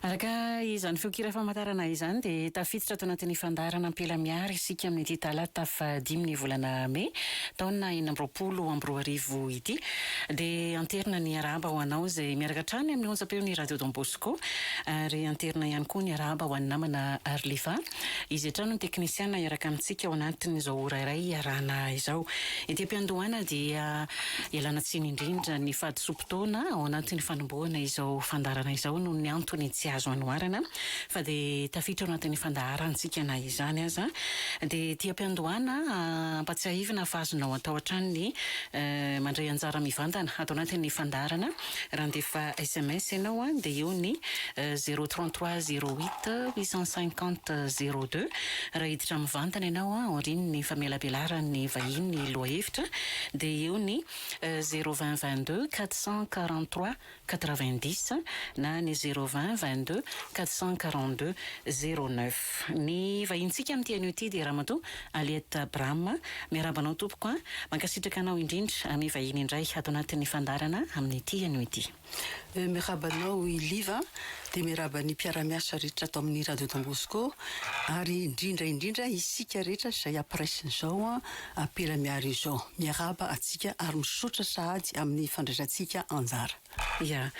Araka izany feonkira famantarana izany dia tafiditra ato anatin'ny fandaharana Ampela Miary isika amin'ity talata fahadimy ny volana mey taona enina amby roapolo amby roa arivo ity. Dia anterina ny arahaba ho anao izay miaraka hatrany amin'ny onjam-peon'ny Radio Don Bosco ary anterina ihany koa ny arahaba ho an'ny namana Arliva. Izy hatrany no teknisiana hiaraka amintsika ao anatin'izao ora iray hiarahana izao. Ety am-piandohana dia ialana tsiny indrindra ny fahadisoam-potoana ao anatin'ny fanombohana izao fandaharana izao noho ny antony tsy azo anoarana fa dia tafiditra ao anatin'ny fandaharantsika na izany aza dia ety am-piandohana ampatsiahivina fa azonao atao hatrany ny mandray anjara mivantana ato anatin'ny fandaharana Raha handefa sms ianao an, dia eo ny zéro trente trois zéro huit huit cent cinquante zéro deux. Raha hiditra mivantana ianao an, aorian'ny famelabelaran'ny vahiny ny lohahevitra, dia eo ny zéro vingt vingt deux quatre cent quarante trois quatre vingt dix na ny zéro vingt vingt deux quatre cent quarante deux zéro neuf. Ny vahintsika amin'ity anio ity dia Ramatoa Aliette Abraham, miarahaba anao tompoko a! Mankasitraka anao indrindra, amy vahiny indray ato anatin'ny fandaharana amin'ity anio ity. Miarahaba anao i Liv a! Dia miarahaba ny mpiara-miasa rehetra ato amin'ny Radio Don Bosco ary indrindra indrindra isika rehetra izay ampiresin'izao ampela miaro izao. Miarahaba antsika ary misaotra sahady amin'ny fandraisantsika anjara. Ya.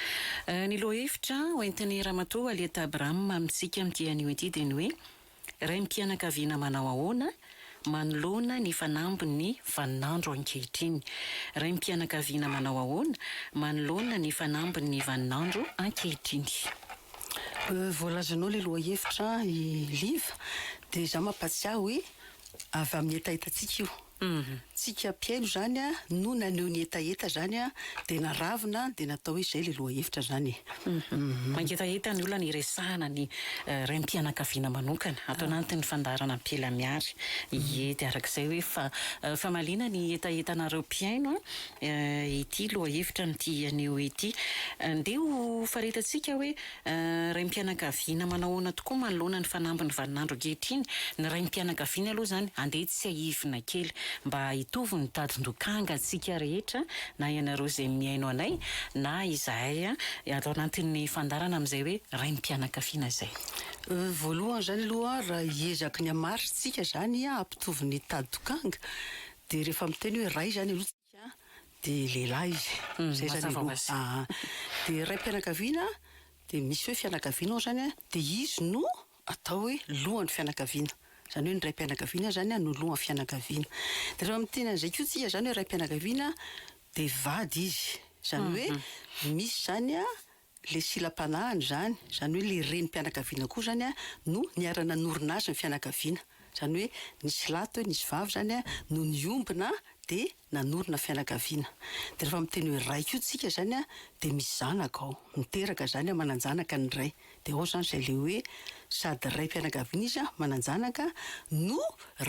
Ny lohahevitra hoentin'i Ramatoa Aliette Abraham amintsika amin'ity anio ity dia ny hoe, Raim-pianakaviana manao ahoana manoloana ny fanambin'ny vaninandro ankehitriny? Raim-pianakaviana manao ahoana manoloana ny fanambin'ny vaninandro ankehitriny? Voalazanao ilay lohahevitra an i Liva dia izaho mampatsiahy hoe avy amin'ny hetahetantsika io. Humm. Tsika mpihaino zany no naneho ny hetaheta zany dia naravina dia natao hoe zay le lohahevitra zany e. Humm. Mangetaheta ny olana iresahana ny raim-pianakaviana manokana ato anatin'ny fandaharana Ampela Mihary. Ie dia arak'izay hoe fa famaliana ny hetahetanareo mpihaino ity lohahevitra no tihy haneho ity. Ndeha ho faretantsika hoe Raim-pianakaviana manao ahoana tokoa manoloana ny fanambin'ny vaninandro ankehitriny ny raim-pianakaviana aloha izany andeha tsiahivina kely mba hitovy ny tadin-dokanga antsika rehetra na ianareo izay mihaino anay na izahay ato anatin'ny fandaharana amin'izay hoe raim-pianakaviana izay. Voalohany izany aloha raha hiezaky ny hamaritry tsika izany hampitovy ny tadin-dokanga dia rehefa miteny hoe ray izany aloha dia lehilahy izy izay izany aloha aa dia raim-pianakaviana dia misy hoe fianakaviana ao izany an dia izy no atao hoe lohan'ny fianakaviana izany hoe ny raim-pianakaviana izany no lohan'ny fianakaviana dia raha miteny an'izay koa tsika izany hoe raim-pianakaviana dia vady izy izany hoe misy izany an Ilay silam-panahiny izany, izany hoe ilay renim-pianakaviana koa izany no niara-nanorina azy ny fianakaviana. Izany hoe nisy lahy teo, nisy vavy izany no niombona dia nanorina fianakaviana. Dia rehefa miteny hoe ray koa isika izany dia misy zanaka ao, miteraka izany, manan-janaka ny ray. Dia ao izany izay ilay hoe sady raim-pianakaviana izy, manan-janaka, no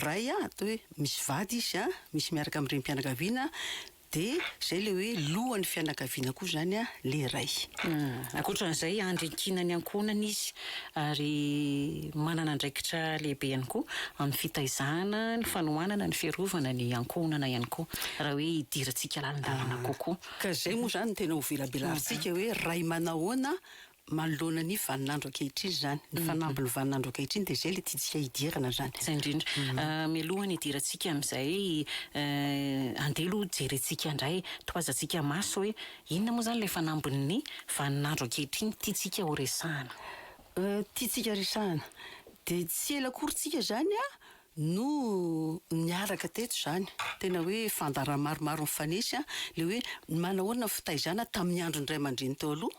ray atao hoe misy vady izy, misy miaraka amin'ny renim-pianakaviana, Dia izay ilay hoe lohan'ny fianakaviana koa izany ilay ray. Ankoatra an'izay, andry ankinan'ny ankohonana izy ary manana andraikitra lehibe ihany koa amin'ny fitaizana, ny fanohanana, ny fiarovana ny ankohonana ihany koa, raha hoe hidirantsika lalindalina kokoa. Ka izay moa izany no tena hovelabelarintsika hoe ray manahoana Manoloana ny vaninandro ankehitriny izany, ny fanamby ny vaninandro ankehitriny dia izay ilay tiantsika hidirana izany. Izay indrindra. Mialoha ny hidirantsika amin'izay, andeha aloha jerentsika indray, tohazantsika maso hoe inona moa izany ilay fanambin'ny vaninandro ankehitriny tiantsika horesahana. Tiantsika resahana. Dia tsy ela akory tsika izany no niaraka teto izany, tena hoe fandaharana maromaro mifanesy an, ilay hoe manahoana ny fitaizana tamin'ny andron'ny ray aman-dreny teo aloha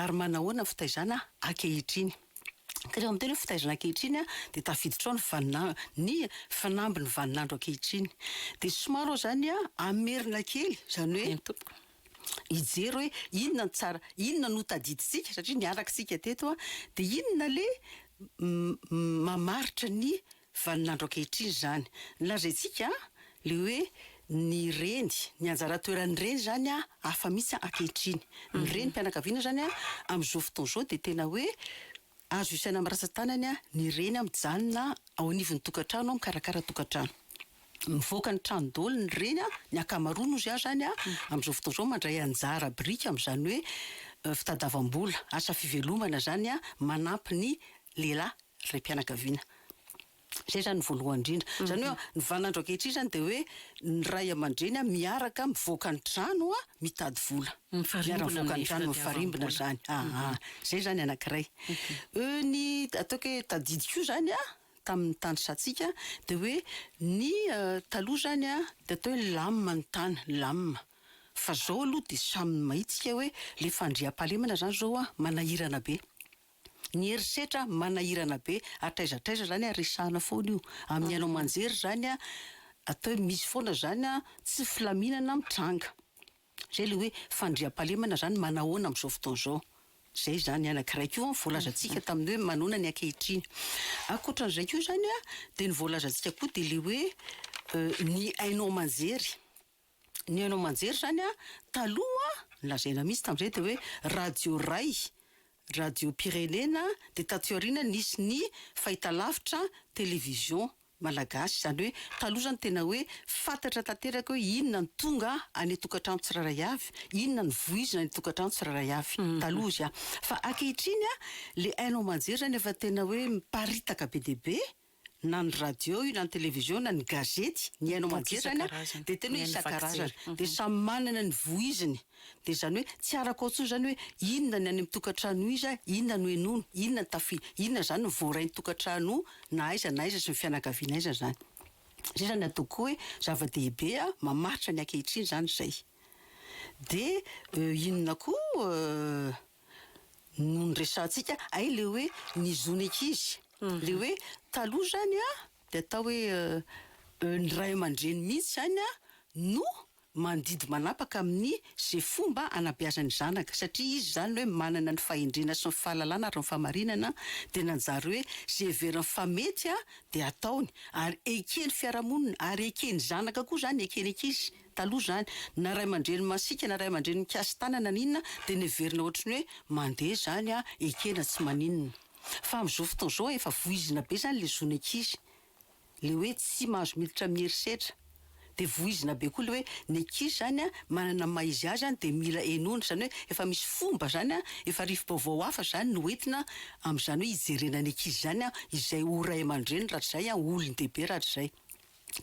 ary manahoana ny fitaizana ankehitriny. Ka rehefa miteny hoe fitaizana ankehitriny an, dia tafiditra ao ny vaninandro, ny fanambin'ny vaninandro ankehitriny. Dia somary ohatran'ny an, hamerina kely, izany hoe. Eny tompoko. hijery hoe inona no tsara, inona no tadidintsika satria niaraka isika teto an, dia inona le mamaritra ny vaninandro ankehitriny izany. Nolazaintsika le hoe ny reny, ny anjara toeran'ny reny izany an hafa mihitsy ankehitriny. Ny renim-pianakaviana izany an amin'izao fotoana izao dia tena hoe. Azo isaina amin'ny ratsan-tanany ny reny mijanona ao anivon'ny tokantrano mikarakara tokantrano. Mivoaka ny trano daholo ny reny, ny ankamaroany hozy aho izany amin'izao fotoana izao mandray anjara biriky amin'izany hoe fitadiavam-bola, asa fivelomana izany manampy ny lehilahy raim-pianakaviana. Izay izany ny voalohany indrindra. Izany hoe ny vaninandro ankehitriny izany dia hoe ny ray aman-dreny miaraka mivoaka ny trano mitady vola. Miara mivoaka ny trano, mifarimbona izany. Aa. Izay izany anankiray. Ny ataoko hoe tadidy koa izany tamin'ny tany satsika dia hoe ny taloha izany dia atao hoe lamina ny tany, lamina. Fa izao aloha dia samy mahita isika hoe ilay fandriampahalemana izany izao manahirana be. Ny herisetra manahirana be, hatraiza hatraiza zany a resahana foana io, amin'ny haino aman-jery zany a, atao hoe misy foana zany a tsy filaminana mitranga, zay le hoe fandriampahalemana zany manahoana amin'izao fotoana izao, zay zany anankiray koa ny voalazantsika tamin'ny hoe manahoana ny ankehitriny. Ankoatran'izay koa zany a de ny voalazantsika koa de le hoe ny haino aman-jery. ny haino aman-jery zany an, taloha nolazaina mihitsy tamin'izay dia hoe radio iray, radiom-pirenena, dia taty aoriana nisy ny fahitalavitra, télévision, malagasy, izany hoe taloha izany tena hoe fantatra tanteraka hoe inona no tonga any an-tokantrano tsirairay avy, inona no voizina any an-tokantrano tsirairay avy, taloha izy an! fa ankehitriny an, ilay haino aman-jery izany efa tena hoe miparitaka be dia be, na ny radio io na ny television na ny gazety ny haino aman-jery zany a dia tena hoe isan-karazany dia samy manana ny voiziny dia izany hoe tsy arako ao intsony izany hoe inona ny any amin'ny tokantrano iza inona no henoina inona ny tafi inona izany no voaray ny tokantrano na aiza na aiza sy ny fianakaviana aiza izany izay izany ataoko koa hoe zava-dehibe a mamaritra ny ankehitriny izany izay dia inona koa no niresahantsika ay le hoe ny zon'ny ankizy le hoe taloha izany a dia atao hoe ny ray aman-dreny mihitsy izany a no mandidy manapaka amin'ny izay fomba anabeazany ny zanaka satria izy izany hoe manana ny fahendrena sy ny fahalalana ary ny fahamarinana dia nanjary hoe izay heveriny fa mety a dia ataony ary eken'ny fiarahamonina ary eken'ny zanaka koa izany eken'ny ankizy Taloha izany, na ray aman-dreny masiaka na ray aman-dreny mikasi-tanana na inona dia neverina ohatry ny hoe mandeha izany an, ekena tsy maninona. Fa amin'izao fotoana izao efa voizina be izany ilay zon'ny ankizy. Ilay hoe tsy mahazo miditra amin'ny herisetra. Dia voizina be koa ilay hoe ny ankizy izany an, manana ny maha izy azy an, dia mila henoina. Izany hoe efa misy fomba izany an, efa rivo-baovao hafa izany no entina amin'izany hoe hijerena ny ankizy izany an, izay ho ray aman-dreny rahatrizay an, ho olon-dehibe rahatrizay.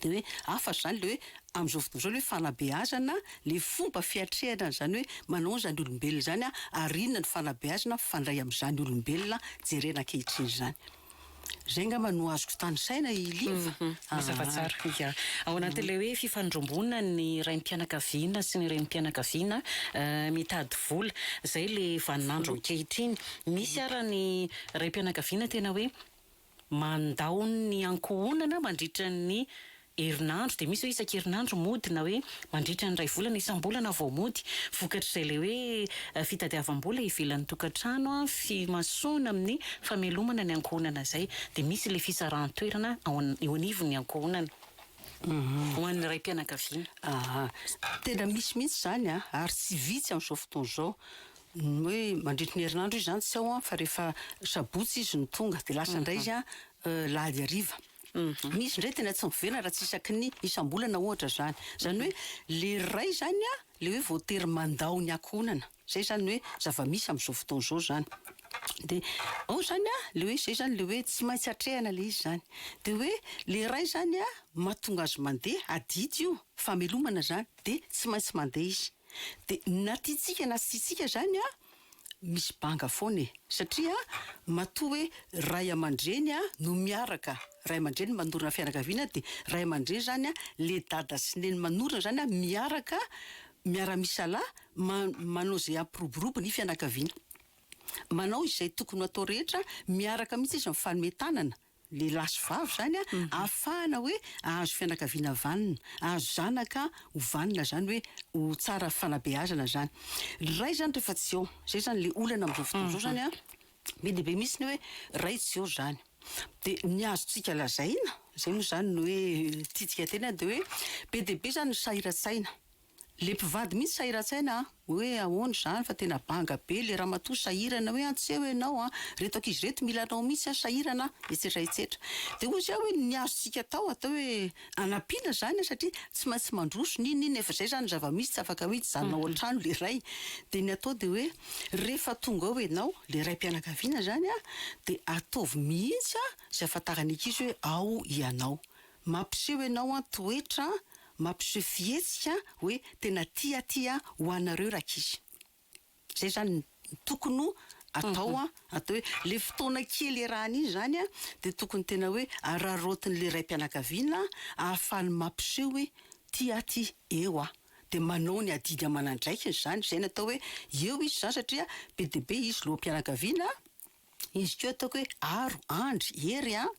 Dia hoe hafatra izany ilay hoe amin'izao fotoana izao ilay hoe fanabeazana, ilay fomba fiatrehana an'izany hoe manao an'izany olombelona izany ary inona no fanabeazana mifandray amin'izany olombelona jerena ankehitriny izany. Izay angamba no azoko tanisaina i Liva a. Mazava tsara, ia. Ao anatin'ilay hoe fifandromboana ny raim-pianakaviana sy ny renim-pianakaviana mitady vola. Izay ilay vaninandro ankehitriny. Misy ary ny raim-pianakaviana tena hoe. mandao ny ankohonana mandritra ny herinandro dia misy hoe isan-kerinandro mody na hoe mandritra ny iray volana, isam-bolana vao mody. Vokatr'izay ilay hoe fitadiavam-bola ivelan'ny tokantrano, fimasoana amin'ny famelomana ny ankohonana izay dia misy ilay fisarahan-toerana ao eo anivon'ny ankohonana ho an'ny raim-pianakaviana. Tena misy mihitsy izany ary tsy vitsy amin'izao fotoana izao. ny hoe mandritry ny herinandro izy zany tsy ao an fa rehefa sabotsy izy no tonga de lasa indray izy an lahady hariva misy indray tena tsy miverina raha tsy isaky ny isam-bolana ohatra zany zany hoe le ray zany an le hoe voatery mandao ny ankohonana zay zany hoe zava-misy am'zao fotoana izao zany de ao zany an le hoe zay zany le hoe tsy maintsy atrehana le izy zany de hoe le ray zany an mahatonga azy mandeha adidy io famelomana zany de tsy maintsy mandeha izy Dia na tiantsika na tsy tiantsika izany an, misy banga foana e. Satria matoa hoe ray aman-dreny no miaraka, ray aman-dreny manorina fianakaviana dia ray aman-dreny izany an, ilay dada sy neny manorina izany an, miaraka, miara-misalahy, ma- manao izay hampiroborobo ny fianakaviana. Manao izay tokony ho atao rehetra, miaraka mihitsy izy mifanome tanana. lehilahy sy vavy izany an, ahafahana hoe ahazo fianakaviana vanona, ahazo zanaka ho vanona izany hoe ho tsara fanabeazana izany. Ny ray izany rehefa tsy eo, izay izany ilay olana amin'izao fotoana izao izany an, be dia be mihitsy ny hoe ray tsy eo izany. Dia ny azontsika lazaina, izay moa izany no hoe tiantsika tena dia hoe be dia be izany ny sahiran-tsaina. Le mpivady mihitsy sahiratsaina a! Hoe ahoana izany fa tena banga be le ramatoa sahirana hoe an tsy eo ianao an! Reto ankizy reto mila anao mihitsy an! Sahirana an! Etsetra etsetra. De hoy zah hoe ny azontsika atao atao hoe anampiana zany an! Satria tsy maintsy mandroso n'inona n'inona efa zay zany ny zava-misy tsy afaka hoe hijanona ao an-trano le ray. De ny atao de hoe rehefa tonga ao ianao le raim-pianakaviana zany an! De ataovy mihitsy an! Izay ahafantaran'ny ankizy hoe ao ianao. Mampiseho ianao an toetra mampiseho fihetsika hoe tena tia aty an ho anareo rankizy. Zay zany no tokony ho atao an, atao hoe le fotoana kely iarahana iny zany an de tokony tena hoe araraotiny le raim-pianakaviana ahafahany mampiseho hoe tia aty eo an de manao ny adidy aman'andraikiny zany, zay no atao hoe eo izy zany satria be dia be izy lohampianakaviana an. Izy koa ataoko hoe aro, andry, hery an!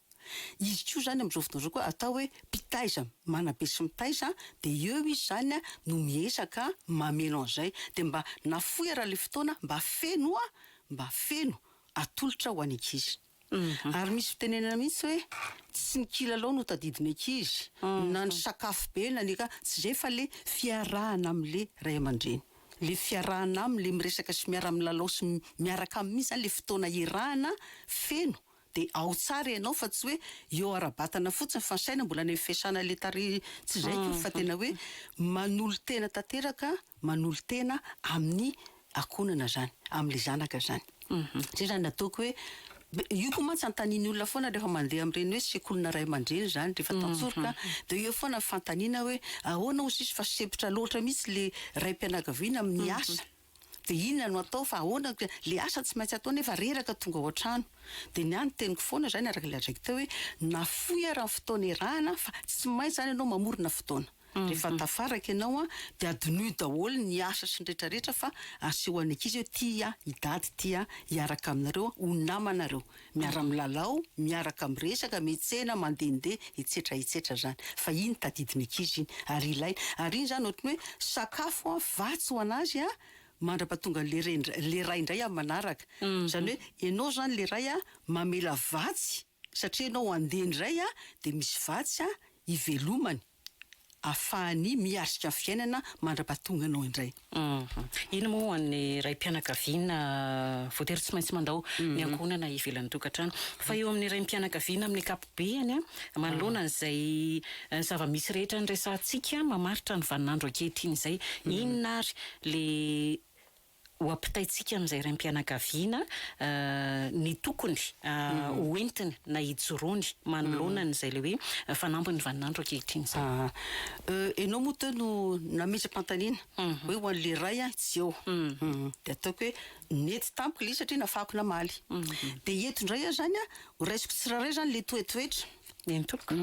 Izy koa izany amin'izao fotoana izao koa atao hoe mpitaiza, manabe sy mitaiza, dia eo izy izany no miezaka mameno an'izay. Dia mba nafoy ary ilay fotoana mba feno an! Mba feno! Atolotra ho an'ny ankizy. Ary misy fitenenana mihitsy hoe tsy ny kilalao no tadidin'ny ankizy, na ny sakafo be na ny, tsy izay fa ilay fiarahana amin'ilay ray aman-dreny. le fiarahana aminy le miresaka sy miara milalao sy miaraka aminy mintsy zany le fotoana iarahana feno de ao tsara ianao fa tsy hoe eo ara batana fotsiny fa ny saina mbola any aminy fiasana le tarehy tsy zay ko fa tena hoe manolo tena tanteraka manolo tena aminy akonana zany aminy zanaka zany. Zay zany ataoko hoe io koa mantsy antaniny olona foana rehefa mandeha amin'ireny hoe sekolina ray aman-dreny izany rehefa tantsoroka dia eo foana ny fanontaniana hoe ahoana hozy izy fa sempotra loatra mihitsy ilay raim-pianakaviana amin'ny asa dia inona no atao fa ahoana ilay asa tsy maintsy atao nefa reraka tonga ao an-trano dia ny ahy ny teniko foana izany araka ilay andraikitao hoe nafoy ary ny fotoana erahana fa tsy maintsy izany ianao mamorona fotoana. Rehefa tafaraka ianao an, dia adinoy daholo ny asa sy ny rehetra rehetra fa aseho any ankizy hoe ty an i dady ty an hiaraka aminareo an ho namanareo miara milalao miaraka mirezaka mitsena mandende etsetra etsetra zany fa iny tadidy ny ankizy iny ary ilaina ary iny zany ohatry ny hoe sakafo an vatsy ho anazy an mandrapatonga le reny le ray indray amin'ny manaraka zany hoe ianao zany le ray an mamela vatsy Satria ianao handeha indray an, dia misy vatsy an, hivelomany, afahany miatrika ny fiainana mandrapatonga anao indray. Inona moa ho an'ny raim-pianakaviana voatery tsy maintsy mandao ny ankohonana ivelan'ny tokantrano? Fa eo amin'ny raim-pianakaviana amin'ny ankapobeny an, manoloana an'izay zava-misy rehetra niresahantsika mamaritra ny vaninandro ankehitriny izay, inona ary ilay ho ampitaintsika amin'izay raim-pianakaviana ny tokony ho entiny na ijoroany manoloana an'izay ilay hoe fanampin'ny vaninandro ankehitriny izany. Ianao moa teo no nametsa-pantaniana hoe ho an'ilay ray aho tsy eo. Dia ataoko hoe nety tamiko ilay izy satria nafahako namaly. Dia eto indray aho izany horaisiko tsirairay izany ilay toetoetra. Eny tompoko.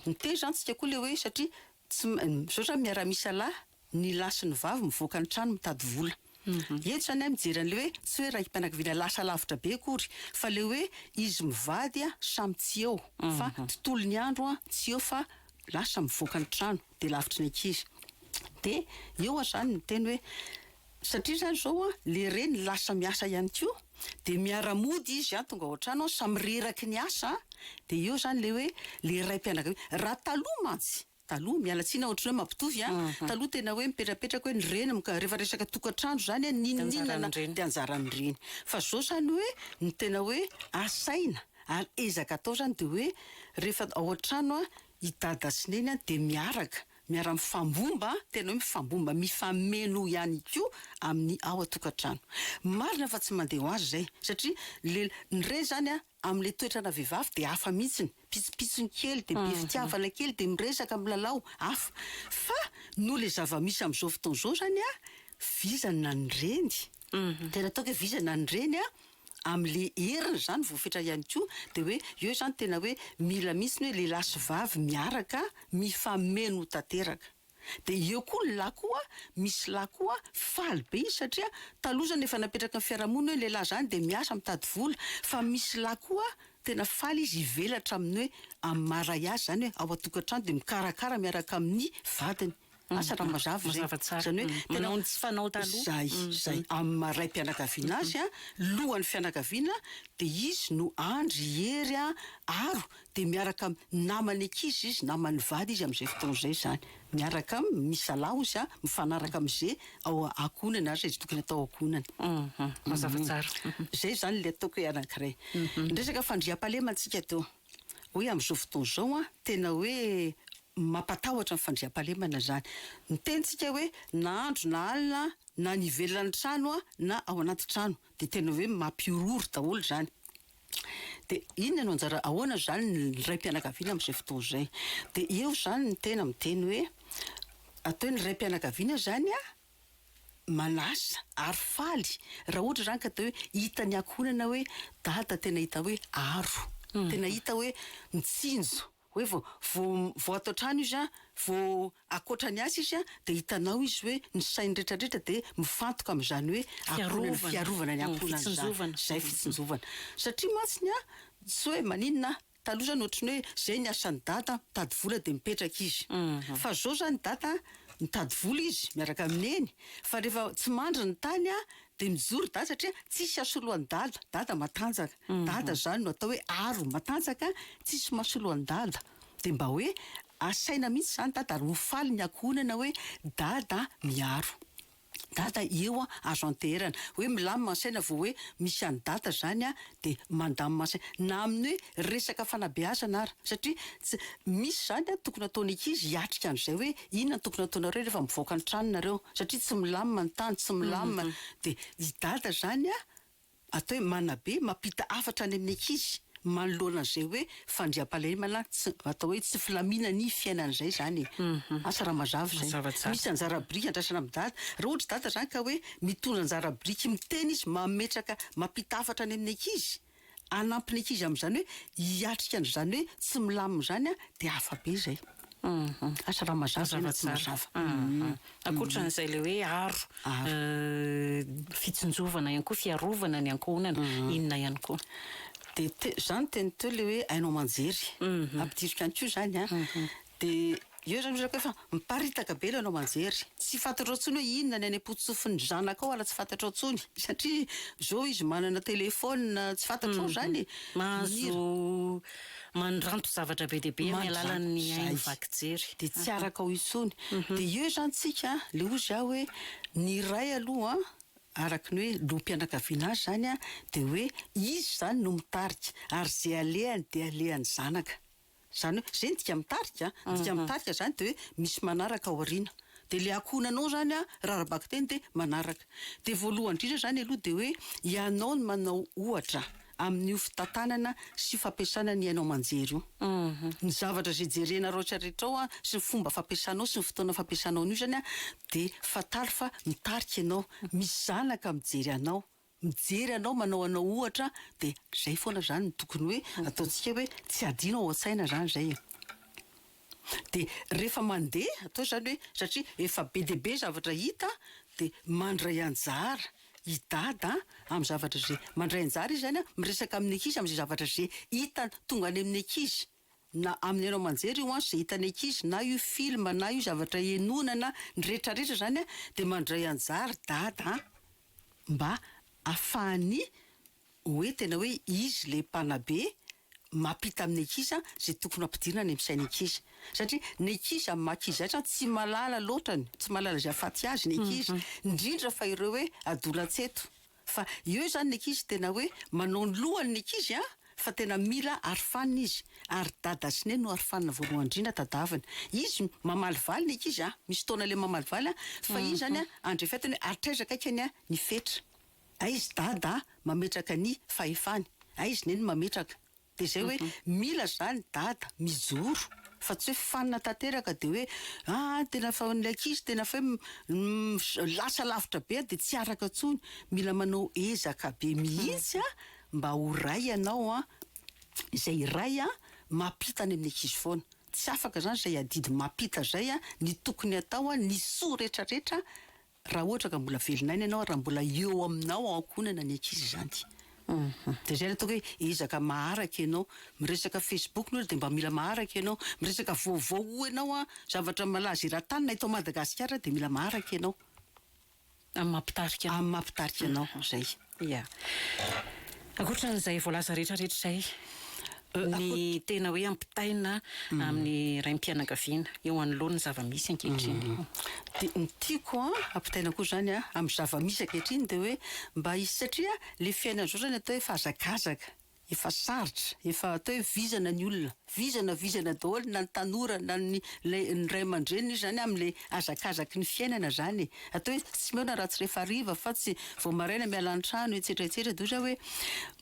Miteny izany isika koa ilay hoe satria tsy, misaotra miara-misalahy. Ny lahy sy ny vavy mivoaka ny trano mitady vola. Eto izany aho mijery an'ilay hoe tsy hoe raim-pianakaviana lasa lavitra be akory fa ilay hoe izy mivady a samy tsy eo fa tontolon'ny andro a tsy eo fa lasa mivoaka ny trano dia lavitry ny ankizy. Dia eo aho izany miteny hoe satria izany izao a ilay reny lasa miasa ihany koa dia miara-mody izy a tonga ao an-trano a samy reraky ny asa a dia eo izany ilay hoe ilay raim-pianakaviana. Raha taloha mantsy Taloha, miala tsiny aho ohatran'ny hoe mampitovy an, taloha tena hoe mipetrapetraka hoe ny reny, rehefa resaka tokantrano izany an, n'inon'inona dia anjaran'ny reny. Fa izao izany hoe ny tena hoe asaina ary ezaka atao izany dia hoe rehefa ao an-trano an, i dada sy neny an dia miaraka, miara-mifambomba, tena hoe mifambomba, mifameno ihany koa amin'ny ao an-tokantrano. Marina fa tsy mandeha ho azy izay satria ny reny izany an, Amin'ilay toetrana vehivavy dia hafa mihitsiny, pitsopitsony kely dia be fitiavana kely dia miresaka, milalao, hafa. Fa noho ilay zava-misy amin'izao fotoana izao izany an, vizana ny reny, tena ataoko hoe vizana ny reny an, amin'ilay heriny izany voafetra ihany koa, dia hoe eo izany tena hoe mila mihitsiny hoe lehilahy sy vavy miaraka mifameno tanteraka. Dia eo koa ny lahy koa, misy lahy koa faly be izy satria taloha izany efa napetraka ny fiarahamonina hoe lehilahy izany dia miasa mitady vola, fa misy lahy koa tena faly izy hivelatra amin'ny hoe amin'ny maha ray azy izany hoe ao an-tokantrano dia mikarakara miaraka amin'ny vadiny, asa raha mazava izay, izany hoe tena manao ny tsy fanao taloha, izay, izay, amin'ny maha raim-pianakaviana azy, lohan'ny fianakaviana dia izy no andry, hery, aro dia miaraka amin'ny namany ankizy izy, namany vady izy amin'izay fotoana izay izany. Miaraka aminy, misalaho izy an, mifanaraka amin'izay ao ankohonany ary izay tsy tokony atao ao ankohonany. Mazava tsara. Izay izany ilay ataoko hoe anankiray. Ny resaka fandriampahalema antsika eto, hoe amin'izao fotoana izao an, tena hoe mampatahotra ny fandriampahalemana izany. Ny tenintsika hoe na andro na alina an, na any ivelan'ny trano an, na ao anaty trano, dia tena hoe mampihorohoro daholo izany. Dia inona no anjara, ahoana izany ny raim-pianakaviana amin'izay fotoana izay? Dia eo izany ny tena miteny hoe, atao hoe ny raim-pianakaviana izany an, manasa ary faly raha ohatra izany ka dia hoe hitan'ny ankohonana hoe dada tena hita hoe aro, tena hita hoe mitsinjo. hoe vao vao vao ato an-trano izy an, vao akoatra ny asa izy an, dia hitanao izy hoe ny sainy rehetra rehetra dia mifantoka amin'izany hoe ankohonana, fiarovana ny ankohonana izany, izay fitsinjovana, satria mantsy ny an, tsy hoe maninona an, taloha izany ohatry ny hoe izay ny asan'i dada an, mitady vola dia mipetraka izy, fa izao izany i dada an, mitady vola izy miaraka amin'i neny, fa rehefa tsy mandry ny tany an, dia mijoro dada satria tsisy hasolo an'i dada, dada matanjaka. Dada izany no atao hoe aro matanjaka tsisy masoloan-dada. Dia mba hoe asaina mihitsy izany dada ary ho faly ny ankohonana hoe dada miaro. Dada eo an, azo anteherana. Hoe milamina ny saina vao hoe misy an'i dada izany an, dia mandamina ny saina. Na amin'ny hoe resaka fanabeazana ara. Satria tsy, misy izany an, tokony hataon'ny ankizy hiatrika an'izay hoe inona no tokony hataonareo rehefa mivoaka ny tranonareo. Satria tsy milamina ny tany, tsy milamina. Dia i dada izany an, Atao hoe manabe, mampita hafatra any amin'ny ankizy manoloana an'izay hoe fandriampahalemana tsy, atao hoe tsy filamina ny fiainana izay izany e. Asa raha mazava izay. Mazava tsara. Misy anjara biriky andrasana amin'i dada. Raha ohatra dada izany ka hoe mitondra anjara biriky miteny izy, mametraka, mampita hafatra any amin'ny ankizy, hanampy ny ankizy amin'izany hoe hiatrika an'izany hoe tsy milamina izany dia hafa be izay. Asa raha mazava ve na tsy mazava. Ankoatran'izay ilay hoe aro, fitsinjovana ihany koa, fiarovana ny ankohonana, inona ihany koa? Dia te- izany teny teo ilay hoe haino aman-jery. Ampidiriko ihany koa izany an. Dia eo izany ohatra hoe miparitaka be ilay haino aman-jery. Tsy fantatrao intsony hoe inona ny any am-potsofin'ny zanakao ary tsy fantatrao intsony. Satria izao izy manana telefaonina, tsy fantatrao izany e. Mahazo Manondranto zavatra be dia be amin'ny alalan'ny haino vaky jery. Dia tsy araka ao intsony. Dia eo izany tsika, le ozy aho hoe, ny iray aloha, araka ny hoe loham-pianakaviana azy izany an, dia hoe izy izany no mitarika, ary ze alehany dia alehan'ny zanaka. Izany hoe, ze ny dika mitarika an, ny dika mitarika izany dia hoe misy manaraka ao aoriana. Dia le ankohonanao zany a rarabakiteny de manaraka. De voalohany indrindra zany aloha de hoe ianao no manao ohatra amin'io fitantanana sy fampiasana ny haino aman-jery io. Ny zavatra zay jerena raotra rehetrao a sy ny fomba fampiasanao sy ny fotoana fampiasanao an'io zany a de fantaro fa mitarika ianao, misy zanaka mijery anao mijery anao manao anao ohatra de zay foana zany no tokony hoe ataontsika hoe tsy adino ao an-tsaina zany zay e! de rehefa mandeha atao zany hoe satria efa be dia be zavatra hita de mandray anjara i dada amin'ny zavatra ze mandray anjara izy zany a miresaka amin'ny ankizy amin'izay zavatra ze hitany tonga any amin'ny ankizy na amin'ny haino aman-jery io an, izay hitan'ny ankizy na io film na io zavatra henoina na ny retraretra izany an, dia mandray anjara dada an, mba hahafahany hoe tena hoe izy ilay mpanabe mampita amin'ny ankizy an, izay tokony hampidirina any amin'ny sain'ny ankizy satria ny ankizy amin'ny maha ankizy azy an, tsy mahalala loatra ny, tsy mahalala izay hahafaty azy ny ankizy, indrindra fa ireo hoe adolantsento. Fa eo izany ny ankizy tena hoe manao ny lohany ny ankizy an! Fa tena mila arofanina izy. Ary dada sy neny no arofanina voalohany indrindra tadavina. Izy mamalivaly ny ankizy an! Misy fotoana ilay mamalivaly an! Fa iny izany an! Andray fety hoe ary traiza kay kany an! Ny fetra. Aiz dada mametraka ny fahefany. Aiz neny mametraka. Dia izay hoe mila izany dada, mijoro, fa tsy hoe fanina tanteraka dia hoe ah tena fa ilay ankizy tena fa hoe lasa lavitra be dia tsy araka intsony, mila manao ezaka be mihitsy ah mba ho ray ianao ah, izay ray ah mampita any amin'ny ankizy foana, tsy afaka izany izay adidy mampita izay ah, ny tokony atao ah, ny soa rehetra rehetra Raha ohatra ka mbola velon'aina ianao, raha mbola eo aminao ao ankohonana ny ankizy izany. Dia izay ilay ataoko hoe ezaka maharaka ianao. Miresaka Facebook ny olona dia mba mila maharaka ianao. Miresaka vaovao hoy ianao an, zavatra malaza eran-tany na eto Madagasikara dia mila maharaka ianao. Amin'ny maha mpitarika anao. Amin'ny maha mpitarika anao, izay. Ia. Ankoatran'izay voalaza rehetrarehetra izay, ny tena hoe ampitaina amin'ny raim-pianakaviana eo anoloan' ny zava-misy ankehitriny. Dia ny tiako ampitaina koa izany amin'ny zava-misy ankehitriny dia hoe mba hisy, satria ilay fiainana izao izany atao hoe fahazakazaka. Efa sarotra, efa atao hoe vizana ny olona, vizana vizana daholo na ny tanora na ny ilay ny ray aman-dreniny io izany amin'ilay hazakazaky ny fiainana izany e! atao hoe tsy mihaona raha tsy rehefa hariva fa tsy vao maraina miala an-trano etsetra etsetra dia ohatra hoe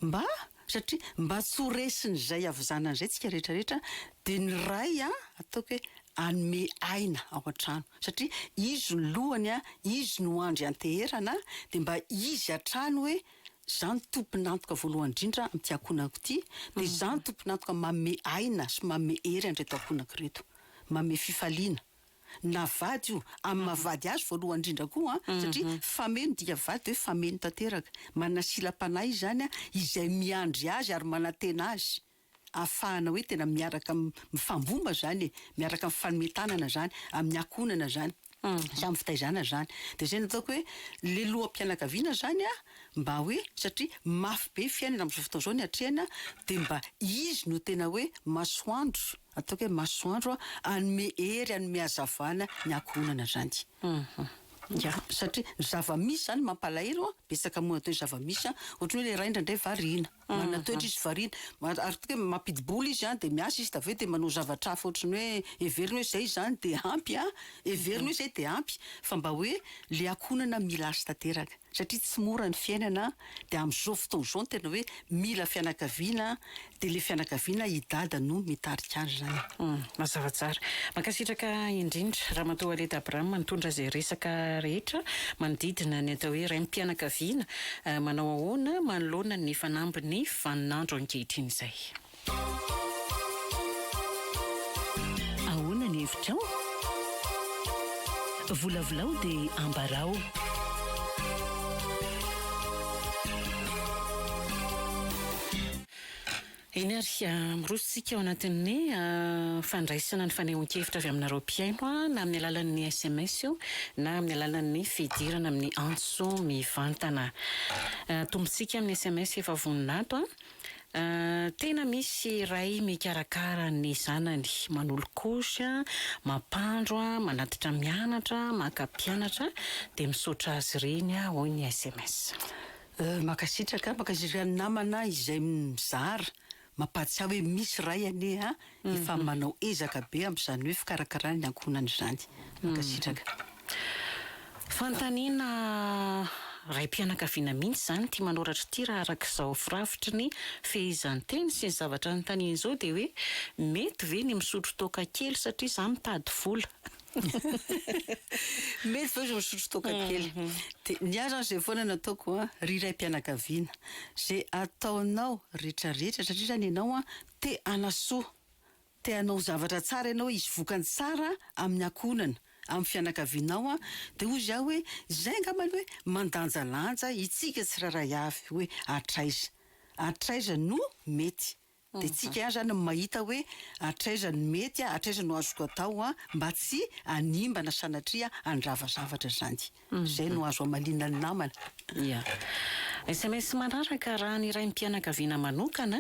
mba satria mba tsy ho resin'izay havizanana izay isika rehetra rehetra dia ny ray an! ataoko hoe hanome aina ao an-trano satria izy no lohany an! izy no andry hanteherana dia mba izy hatrany hoe Izaho no tompon'antoka voalohany indrindra amin'ity ankohonako ity, dia izaho no tompon'antoka manome aina sy manome hery an'ireto ankohonako ireto, manome fifaliana na vady io, amin'ny maha vady azy voalohany indrindra koa an, satria fameno dika vady dia hoe fameno tanteraka, manana silam-panahy izy izany izay miandry azy ary manantena azy. ahafahana hoe tena miaraka mifambomba zany e, miaraka mifanome tanana zany amin'ny ankohonana zany sy amin'ny fitaizana zany. Dia izay no ataoko hoe le loham-pianakaviana zany an, mba hoe satria mafy be ny fiainana amin'izao fotoana izao ny hatrehana dia mba izy no tena hoe masoandro, ataoko hoe masoandro hanome hery, hanome hazavana ny ankohonana zany. Ya, satria ny zava-misy zany mampalahelo an, betsaka moa atao hoe zava-misy an, ohatran'ny hoe le ray indraindray variana. Manana toetra izy variana. Ary tonga hoe mampidi-bola izy dia miasa izy dia avy eo dia manao zavatra hafa ohatran'ny hoe heveriny hoe izay izany dia ampy an, heveriny hoe izay dia ampy fa mba hoe ilay ankohonana mila azy tanteraka satria tsy mora ny fiainana dia amin'izao fotoana izao no tena hoe mila fianakaviana dia ilay fianakaviana i Dada no mitarika azy izany. Mazava tsara. Mankasitraka indrindra Ramatoa Aleta Abraham nitondra izay resaka rehetra manodidina ny atao hoe raim-pianakaviana Manao ahoana manoloana ny fanambin'ny vaninandro ankehitriny izay? Ahoana ny hevitrao? Volavolao dia ambarao. Eny ary, miroso isika ao anatin'ny fandraisana ny fanehoan-kevitra avy aminareo mpihaino, na amin'ny alalan'ny sms io na amin'ny alalan'ny fidirana amin'ny antso mivantana. Tombontsika amin'ny sms efa vonona ato, Tena misy ray mikarakara ny zanany, manolokosy, mampandro, manatitra mianatra, maka mpianatra, dia misaotra azy ireny, hoy ny sms. Mankasitraka, mankasitraka ny namana izay mizara, mampahatsiahy hoe misy Ray anie a, efa manao ezaka be amin'izany hoe fikarakarana ny ankohonany izany. Mankasitraka. Fanontaniana raim-pianakaviana mihitsy izany ity manoratra ity raha araka izao firafitry ny fehezanteny sy ny zavatra anontaniany izao dia hoe mety ve ny misotro toaka kely satria za mitady vola? Mety ve ozy misotro toaka kely? Dia ny ahy zany izay foana no ataoko an, ry raim-pianakaviana, izay ataonao rehetra rehetra, satria zany ianao an, te hanasoa, te hanao zavatra tsara ianao, hisy vokany tsara amin'ny ankohonana, amin'ny fianakavianao an, dia ozy ahy hoe, izay angamba aloha hoe, mandanjalanja itsika tsirairay avy hoe, hatraiza, hatraiza no mety. Dia tsika ihany izany no mahita hoe hatraiza no mety, hatraiza no azoko atao mba tsy hanimba na sanatria handrava zavatra izany. Izay no azo hamaliana ny namana. Ia. Sms manaraka, Raha ny raim-pianakaviana manokana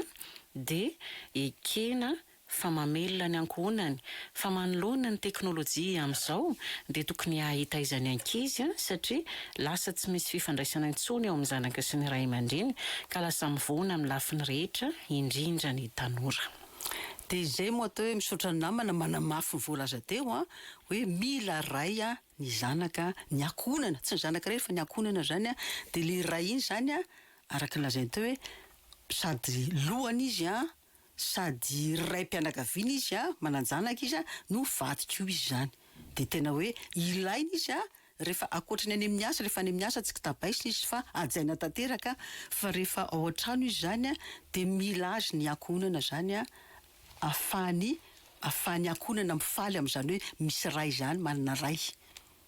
dia ekena fa mamelona ny ankohonany Fa manoloana ny teknolojia amin'izao dia tokony hahita aiza ny ankizy satria lasa tsy misy fifandraisana intsony eo amin'ny zanaka sy ny ray aman-dreny ka lasa mivoana amin'ny lafiny rehetra indrindra ny tanora. Dia izay moa atao hoe misaotra ny namana manamafy ny voalaza teo an, hoe mila ray ny zanaka, ny ankohonana, tsy ny zanaka irery fa ny ankohonana izany an, dia ilay ray iny izany an araka ny lazainy teo hoe sady lohany izy an, sady raim-pianakaviana izy an, manan-janaka izy an, no vadiko io izy izany dia tena hoe ilaina izy an, rehefa ankoatra ny any amin'ny asa, rehefa any amin'ny asa tsy kitabaisina izy fa hajaina tanteraka fa rehefa ao an-trano izy izany an dia mila azy ny ankohonana izany an, ahafahany, ahafahany ankohonana mifaly amin'izany hoe misy ray izany, manana ray.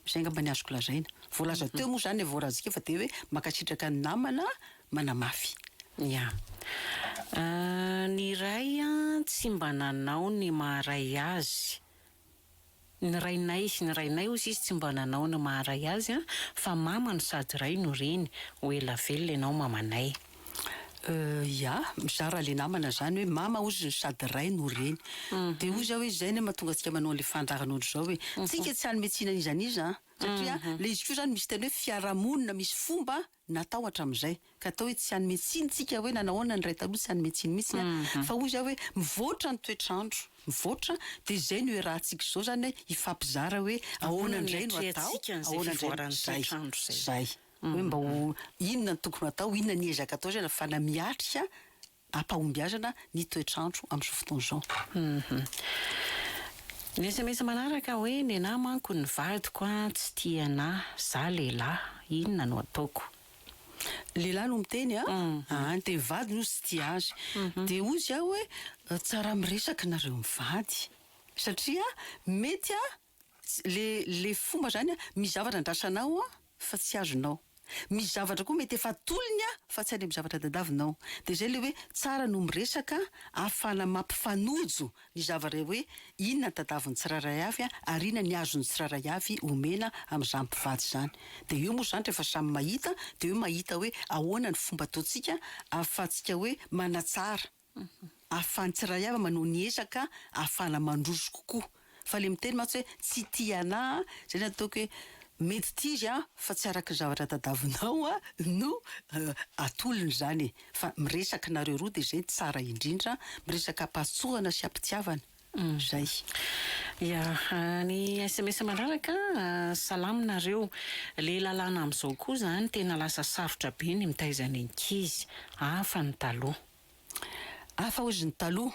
Izay angamba ny azoko lazaina. Voalaza teo moa izany ilay voarazika fa dia hoe mankasitraka ny namana manamafy. Ia. Ny iray tsy mba nanao ny maha-ray azy. Ny rainay, ny rainay hoy izy tsy mba nanao ny maha-ray azy fa mama no sady ray no reny. Ho ela velona ianao mamanay. Euh ya, mizara le namana zany hoe mama ozy no sady ray no reny. De hoy za hoe zay anie mahatonga antsika manao anle fandrarana otrzao hoe tsika tsy hanome tsiny an'iza an'iza an! Satria le izy ko zany misy teny hoe fiarahamonina misy fomba natao hatramin'izay ka atao hoe tsy hanome tsiny tsika hoe nanao ahoana ny ray taloha tsy hanome tsiny mihitsy an! Fa hoy za hoe mivoatra ny toetr'andro mivoatra de zay no iarahantsika izao zany hoe hifampizara hoe ahoana indray no atao ahoana indray no izay. Zay. hoe mba ho inona no tokony hatao, inona ny ezaka atao izay ahafahana miatrika am-pahombiazana ny toetr'andro amin'izao fotoana izao. Ny sms manaraka hoe, nenà manko ny vadiko an, tsy tia anà, zà lehilahy, inona no ataoko? Lehilahy no miteny an, aa ny teny vadiny hozy tsy tia azy, dia hozy aho hoe, tsara miresaka nareo mivady, satria mety an, Le le fomba zany a, misy zavatra andrasanao a fa tsy azonao, misy zavatra koa mety efa atolony a fa tsy any amin'ny zavatra tadiavinao, de zay le hoe tsara no miresaka ahafahana mampifanojo ny zavatra hoe inona ny tadiavin'ny tsirairay avy a ary inona ny azon'ny tsirairay avy omena amin'izany mpivady izany, de eo moa zany rehefa samy mahita de eo mahita hoe ahoana ny fomba ataontsika ahafahantsika hoe manatsara. ahafahan'ny tsirairay avy manao ny ezaka ahafahana mandroso kokoa. Fa ilay miteny mantsy hoe tsy tia anah an, izay no ataoko hoe mety tia izy an, fa tsy araka ny zavatra tadavinao an no atolony izany e. Fa miresaka nareo roa dia izay no tsara indrindra, miresaka am-pahatsoana sy am-pitiavana. Izay. Ia. Ny sms manaraka, Salama nareo. Ilay lalàna amin'izao koa izany tena lasa sarotra be ny mitaiza ny ankizy. Hafa ny taloha. Hafa ozy ny taloha.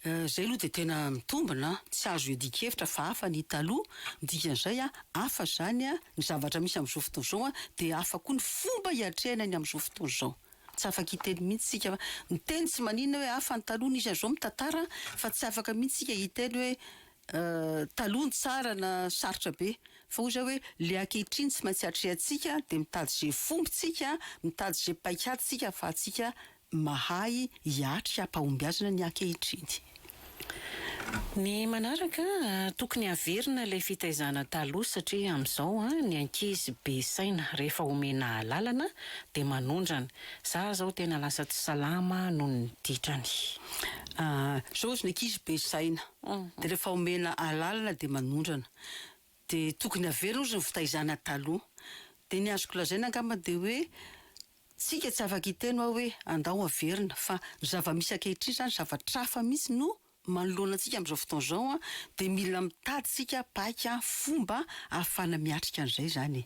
Zay aloha dia tena mitombina an! Tsy azo iadian-kevitra fa hafa ny taloha, ny dikan'izay an, hafa izany an, ny zavatra misy amin'izao fotoana izao an, dia hafa koa ny fomba iatrehana ny amin'izao fotoana izao. Tsy afaka hiteny mihitsy tsika fa miteny tsy maninona hoe hafa ny taloha nisy an'izao mitantara fa tsy afaka mihitsy tsika hiteny hoe Taloha no tsara na sarotra be fa hoy zay hoe le ankehitriny tsy maintsy atrehantsika de mitady ze fomba tsika mitady ze paikady tsika fa atsika mahay hiatry apahombiazana ny ankehitriny. Ny manaraka tokony haverina ilay fitaizana taloha satria amin'izao ny ankizy be saina rehefa omena alalana dia manondrana. Za zao tena lasa tsy salama noho ny ditrany. Zao ozy ny ankizy be saina. Dia rehefa omena alalana dia manondrana. Dia tokony averina ozy ny fitaizana taloha. Dia ny azoko lazaina angamba dia hoe tsika tsy afaka hiteny hoa hoe andao averina fa ny zava-misy ankehitriny izany zavatra hafa mihitsy no manoloana antsika amin'izao fotoana izao dia mila mitady isika paika fomba ahafahana miatrika an'izay izany e.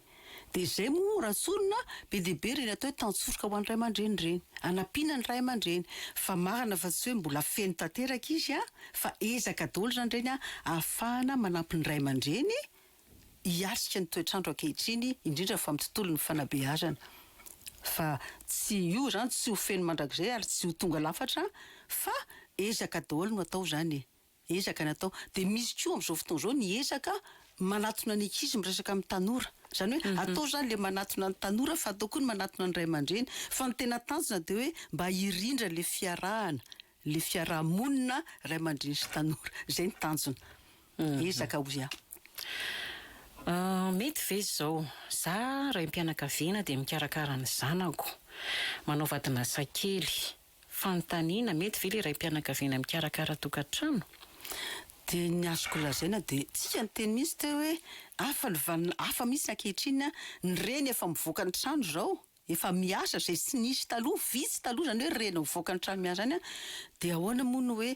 Dia izay moa raha tsorina be dia be ireny atao hoe tantsoroka ho an'ny ray aman-dreny ireny. Hanampiana ny ray aman-dreny. Fa marina fa tsy hoe mbola feno tanteraka izy an, fa ezaka daholo izany ireny ahafahana manampy ny ray aman-dreny hiatrika ny toetr'andro ankehitriny, indrindra fa amin'ny tontolon'ny fanabeazana. Fa tsy io izany tsy ho feno mandrakizay ary tsy ho tonga lafatra fa ezaka daholo no atao izany e. Ezaka natao. Dia misy koa amin'izao fotoana izao ny ezaka manatona ny ankizy miresaka amin'ny tanora. Izany hoe atao izany ilay manatona ny tanora fa atao koa ny manatona ny ray aman-dreny. Fa ny tena tanjona dia hoe mba hirindra ilay fiarahana, ilay fiaraha-monina ray aman-dreny sy tanora. Izay ny tanjona. Ezaka hoy aho. Mety ve izao? Za raim-pianakaviana dia mikarakara ny zanako. Manao vadin'asa kely. Fanontaniana, Mety ve ilay raim-pianakaviana mikarakara tokantrano? Dia ny azoko lazaina dia tsika niteny mihitsy teo hoe hafa ny vanona, hafa mihitsy ankehitriny, ny reny efa mivoaka ny trano izao, efa miasa, izay tsy nisy taloha, vitsy taloha izany hoe reny mivoaka ny trano miasa izany, dia ahoana moa ny hoe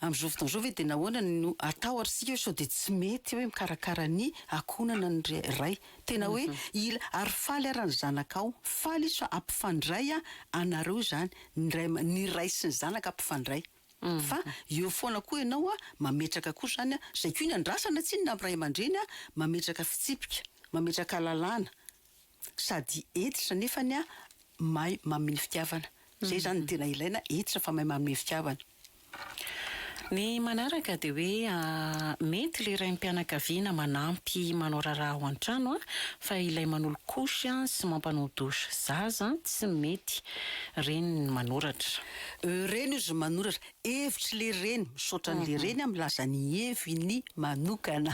Amin'izao fotoana izao ve dia nahoana no atao ary isika hoe sao dia tsy mety hoe mikarakara ny ankohonana ny ray. Tena hoe ila ary faly ara ny zanakao. Faly izy fa ampifandray anareo izany. Ny ray aman, ny ray sy ny zanaka ampifandray. Fa eo foana koa ianao mametraka koa izany, izay koa ny andrasana tsinona amin'ny ray aman-dreny mametraka fitsipika, mametraka lalàna. Sady hentitra nefany a mahay mamin fitiavana. Zay zany no tena ilaina, hentitra fa mahay mamin fitiavana. Ny manaraka dia hoe mety le raim pianakaviana manampy manao raharaha ao antrano a fa ilay manolo couche a sy mampanao douche zaza tsy mety. Reny ny manoratra. Reny ozy manoratra. Hevitry le reny, misaotra an le reny a milaza ny heviny manokana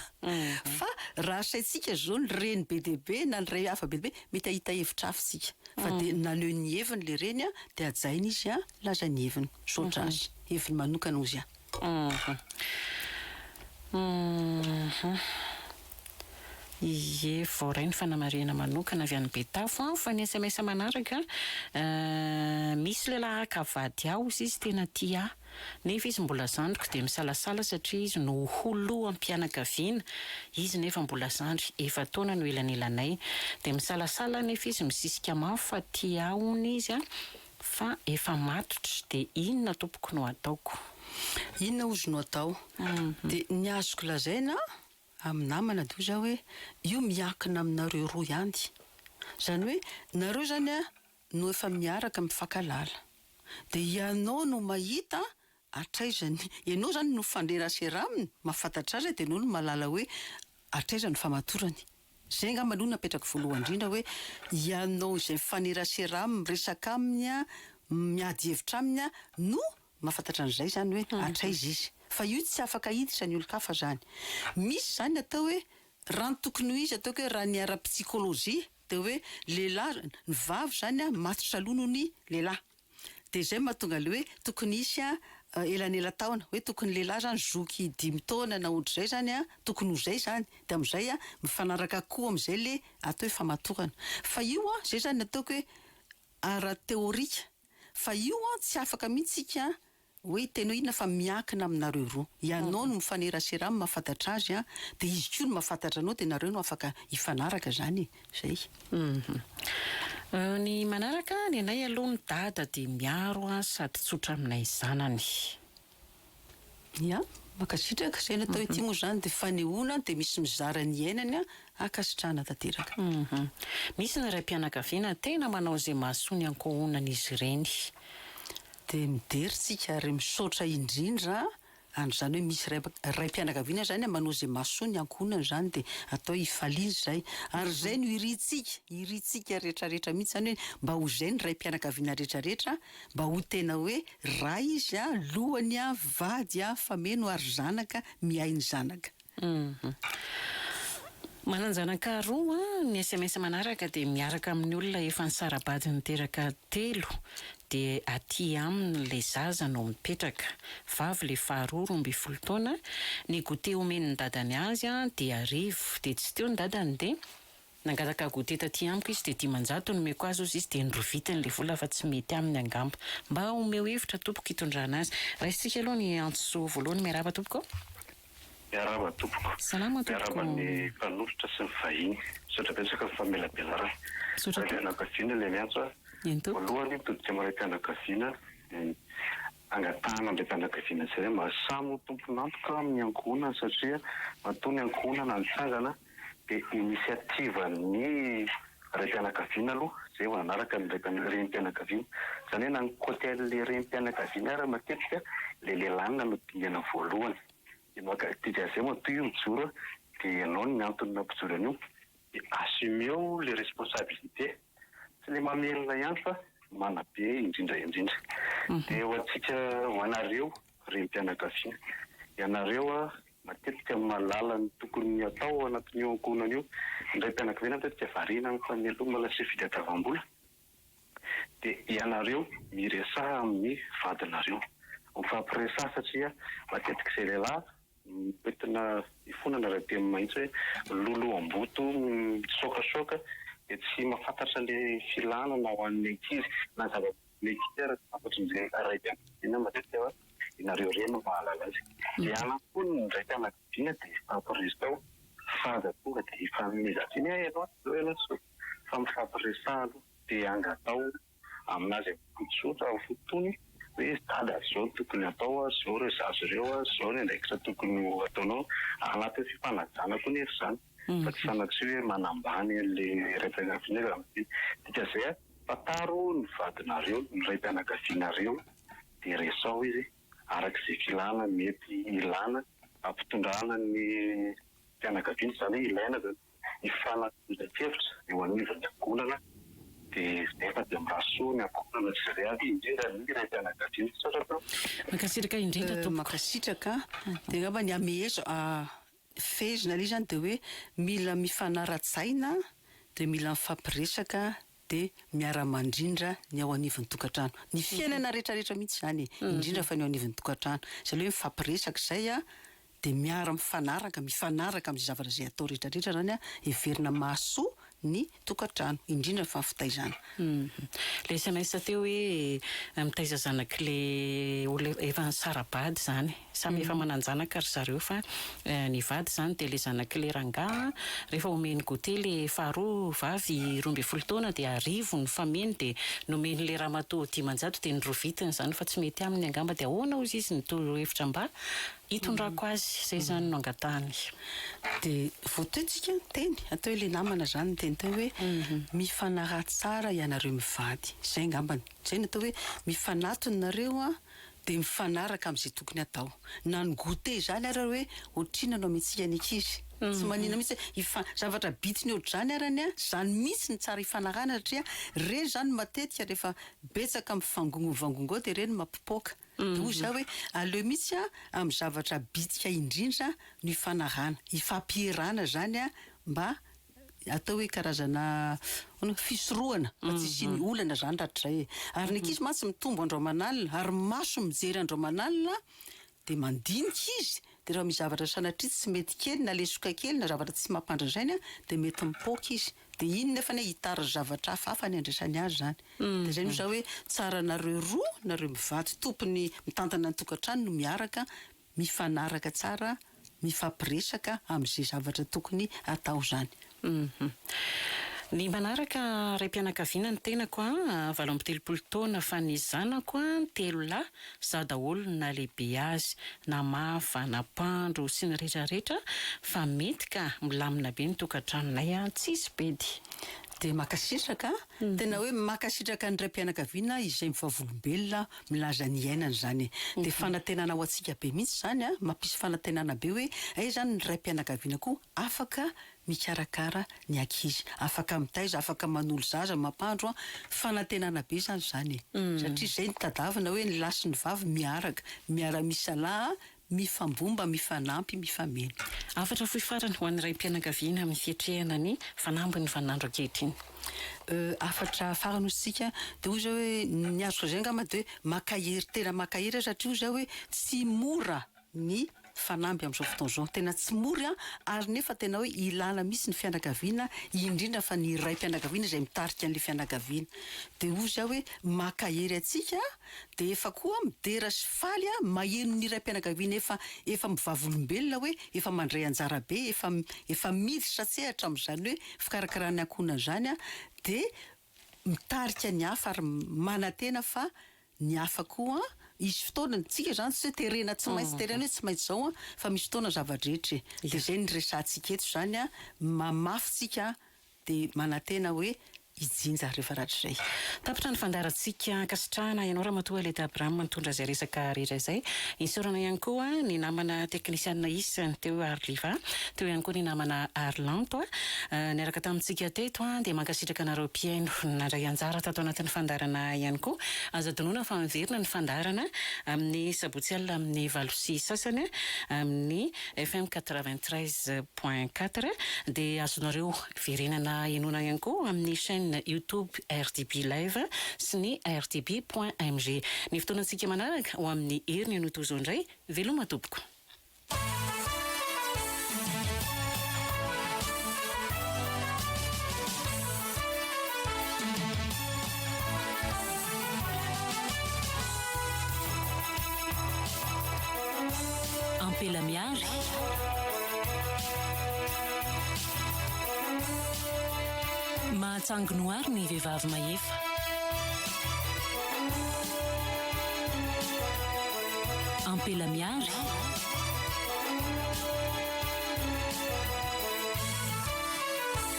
fa raha asaintsika zao ny reny be dia be na ny ray hafa be dia be mety ahita hevitra hafa tsika fa de naneho ny heviny le reny a de hajaina izy a milaza ny heviny misaotra azy heviny manokana ozy a. Ie, voaray ny fanamarihana manokana avy any Betafo aho fa ny sms manaraka misy lehilahy haka vady ahy hozy izy tena tia ahy nefa izy mbola zandriko dia misalasala satria izy no ho loham-pianakaviana izy nefa mbola zandry efa-taona no elanelanay dia misalasala aho nefa izy misisika mafy fa tia ahy hono izy fa efa matotra dia inona tompoko no ataoko. Inona hozy no atao? Dia ny azoko lazaina amin'ny namana dia hoy izaho hoe, io miankina aminareo roa ihany. Izany hoe, nareo izany no efa miaraka mifankahalala. Dia ianao no mahita hatraiza ny, ianao izany no mifandrarasera aminy, mahafantatra azy, dia ianao no mahalala hoe hatraiza no famatorany. Izay angamba aloha no apetrako voalohany indrindra hoe, ianao izay mifanerasera aminy, miresaka aminy, miady hevitra aminy no Mahafantatra an'izay izany hoe hatraiza izy. Fa io tsy afaka hiditra ny olon-kafa izany. Misy izany atao hoe raha ny tokony ho izy ataoko hoe raha ny ara-pisikolojia dia hoe lehilahy, ny vavy izany an matotra aloha noho ny lehilahy. Dia izay no mahatonga ilay hoe tokony hisy elanela-taona. Hoe tokony lehilahy izany zoky dimy taona na ohatr'izay izany an, tokony ho izay izany. Dia amin'izay an, mifanaraka koa amin'izay ilay atao hoe famatorana. Fa io an, izay izany no ataoko hoe ara-teorika. Fa io an tsy afaka mihitsy tsika an hoe hitainao inona fa miankina aminareo roa. Ianao no mifanerasera aminy mahafantatra azy an dia izy koa no mahafantatra anao dia nareo no afaka hifanaraka zany e. Zay. Ny manaraka nenay aloha ny dada dia miaro an sady tsotra aminay zanany. Ia, mankasitraka. Izay natao ity moa izany dia fanehoana dia misy mizara ny iainany an, ankasitrahana tanteraka. Misy ny raim-pianakaviana tena manao izay mahasoa ny ankohonan'izy ireny. Dia midera isika ary misaotra indrindra an, ary izany hoe misy ray raim-pianakaviana izany manao izay mahasoa ny ankohonany izany dia atao hifaliana izay, ary izay no irintsika, irintsika rehetra rehetra mihintsy izany hoe mba ho izay ny raim-pianakaviana rehetra rehetra an, Mba ho tena hoe ray izy a, lohany a, vady a, fameno ary zanaka miahy ny zanaka. Manan-janaka roa, ny sms manaraka dia miaraka amin'ny olona efa nisara-bady niteraka telo dia aty aminy ilay zaza no mipetraka, vavy ilay faharoa roa ambin'ny folo taona, ny goûter omen'ny dadany azy dia arivo dia tsy teo ny dadany dia. Nangataka goûter taty amiko izy dia dimanjato nomeko azy hozy izy dia norovitiny ilay vola fa tsy mety aminy angamba. Mba omeo hevitra tompoko hitondrana azy. Raisintsika aloha ny antsy soa voalohany miarahaba tompoko a! Miarahaba tompoko. Salama tompoko. Miarahaba ny mpanolotra sy ny vahiny. Misaotra betsaka amin'ny famelabelarana. Misaotra tompoko. Raim-pianakaviana ilay miantso a! Eny tompoko. Voalohany todika maray-pianakaviana ny Angatahana ny raim-pianakaviana tsirairay mba samy ho tompon'antoka amin'ny ankohonany satria matoa ny ankohonana no trangana dia initiative-n'ny raim-pianakaviana aloha izay vao manaraka ny renim-pianakaviana. Izany hoe na ny côté an'ilay renim-pianakaviana ary matetika ilay lehilahy no dingana voalohany. Dia maka, dia avy eo matoa io mijoro dia ianao ny antony nampijoro an'io. De assumeo le responsabilite tsy le mamelona ihany fa manabe indrindra indrindra de ho antsika ho anareo renim-pianakaviana ianareo matetika mahalala ny tokony atao ao anatin'io ankohonana io ny raim-pianakaviana matetika variana amin'ny fameloma lase fitadiavam-bola de ianareo miresaha amin'ny vadinareo mifampiresaha satria matetika izay lehilahy Mitentina ifonana raha teo mahitsy hoe loloam-boto mitsoakasoaka dia tsy mahafantatra ilay filanana ho an'ny ankizy na zava-mety aza ankoatran'izay ray fianakaviana matetika hoe ianareo irery no mahalala azy. Dia anao koa ny ray fianakaviana dia hifampiresao fa aza tonga dia hifanomezan-tsiny hoe ianao tsy izao ianao tsy izao fa mifampiresaha aloha dia angatao amin'azy am-pototsotra amin'ny fotony hoe dada izao no tokony hatao, izao ireo zaza ireo, izao ny andraikitra tokony ho ataonao. Anatin'ny fifanajana koa nefa izany fa tsy sanatria hoe manambany an'ilay raim-pianakaviana izy amin'ny fiteny. Dikan'izay a, fantaro ny vadinareo, ny raim-pianakavianareo dia resaho izy araka izay filana mety hilana hampitondrana ny fianakaviana, izany hoe ilaina izany. ny fanatanjahan-kevitra eo anivon'ny Fiangonana dia efa dia miraha soa ny ankohonana sy izay rehetra, indrindra ny raim-pianakaviana. Misaotra tompoko. Mankasitraka indrindra tompoko. Mankasitraka dia angamba ny hamezo fehezina ilay izy izany dia hoe mila mifanara-tsaina dia mila mifampiresaka dia miara-mandrindra ny ao anivon'ny tokantrano. Ny fiainana rehetrarehetra mihitsy izany e, indrindra fa ny ao anivon'ny tokantrano. Izay ilay hoe mifampiresaka izay an, dia miara-mifanaraka, mifanaraka amin'izay zavatra izay atao rehetrarehetra izany an, heverina mahasoa ny tokantrano, indrindra fa ny fitaizana. Ilay sms teo hoe mitaiza zanak'ilay olona efa nisara-bady izany. Samy efa manan-janaka ry zareo fa ny vady izany dia ilay zanak'i le rangahy an, rehefa omeny goûter le faharoa vavy roa ambin'ny folo taona dia arivo ny fameny dia nomeny le ramatoa dimanjato dia ny roa vitiny izany fa tsy mety aminy angamba dia ahoana hozy izy ny toro hevitra mba hitondrako azy izay izany no angatahany. Dia vao teo tsika niteny hateo ilay namana izany niteny teo hoe mifanaraha tsara ianareo mivady izay angambany izay no atao hoe mifanatona nareo an dia mifanaraka amin'izay tokony hatao. Na ny goûter izany ary hoe ohatrinona no amentsika ny ankizy. Tsy manina mihitsy hoe hifa-, zavatra bitsiny ohatr'izany ary anie an, izany mihitsy no tsara hifanarahana satria ireny izany no matetika rehefa betsaka mifangongonvangongao dia ireny no mampipoaka. Dia hoy izaho hoe aleo mihitsy an, amin'ny zavatra bitsika indrindra no hifanarahana. Hifampierana izany an mba atao hoe karazana ahoana, fisorohana fa tsy hisian'ny olana zany rahatrizay e. Ary ny ankizy mantsy mitombo andro aman'alina ary ny maso mijery andro aman'alina dia mandinika izy, dia raha misy zavatra sanatria tsy mety kely na lesoka kely na zavatra tsy mampandra-drainy dia mety mipoaka izy, dia iny nefany an hitariza zavatra hafa hafa ny andraisany azy zany. Dia zay no za hoe tsara nareo roa nareo mivady tompony mitantana ny tokantrano no miaraka mifanaraka tsara mifampiresaka amizay zavatra tokony atao zany hum. Ny manaraka raim-pianakaviana ny tenako an, valo amby telopolo taona fa ny zanako an telo lahy, za daholo no nalehibe azy, namafa, nampandro sy ny rehetra rehetra fa mety ka milamina be ny tokantranonay an, tsisy bedy. Dia makasitraka Tena hoe mankasitraka ny raim-pianakaviana izay mivavolombelona milaza ny iainany izany e. Dia fanantenana ho antsika be mihitsy izany a, mampisy fanantenana be hoe hay izany ny raim-pianakaviana koa afaka mikarakara ny ankizy, afaka mitaiza, afaka manolo zaza, mampandro a, fanantenana be izany izany e. Satria izay no tadavina hoe ny lahy sy ny vavy miaraka, miara-misalahy, Mifambomba, mifanampy, mifameno. Hafatra fohy farany ho an'ny raim-pianakaviana amin'ny fiatrehana ny fanambin'ny vaninandro ankehitriny. Hafatra farany hoy isika dia hoy izao hoe, ny azoko lazaina angamba dia hoe maka hery, tena maka hery aho satria hoy izaho hoe tsy mora ny fanamby amin'izao fotoana izao. Tena tsy mora ary nefa tena hoe ilana mihitsy ny fianakaviana, indrindra fa ny raim-pianakaviana izay mitarika an'ilay fianakaviana. Dia hoy izaho hoe maka hery antsika an! dia efa koa midera sy faly a maheno ny raim-pianakaviana efa efa mivavolombelona hoe efa mandray anjara be efa efa miditra an-tsehatra amin'izany hoe fikarakarana ankohonana izany a dia mitarika ny hafa ary manantena fa ny hafa koa hisy fotoana ny tsika izany tsy hoe terena tsy maintsy terena hoe tsy maintsy izao a fa misy fotoana zava-drehetra e dia izay no niresahantsika eto izany a mamafy tsika dia manantena hoe hijinja rehefa rahatrizay. Tapitra ny fandaharantsika. Ankasitrahana ianao Ramatoa Aleta Abraham nitondra izay resaka rehetra izay. Isaorana ihany koa ny namana teknisianina isany teo Arliva, teo ihany koa ny namana Arlanto niaraka tamintsika teto dia mankasitraka anareo mpihaino nandray anjara tato anatin'ny fandaharana ihany koa. Aza adinoina fa miverina ny fandaharana amin'ny sabotsy alina amin'ny valo sy sasany amin'ny FM quatre-vingt-treize. Point quatre, dia azonareo verenana henoina ihany koa amin'ny chaîne YouTube RDB Live sy ny RDB point MG. Ny fotoanantsika manaraka ho amin'ny heriny no toa izao indray. Veloma tompoko. Ampela Mihary. Mahatsangno àry ny vehivavy mahefa. Ampela Mihary.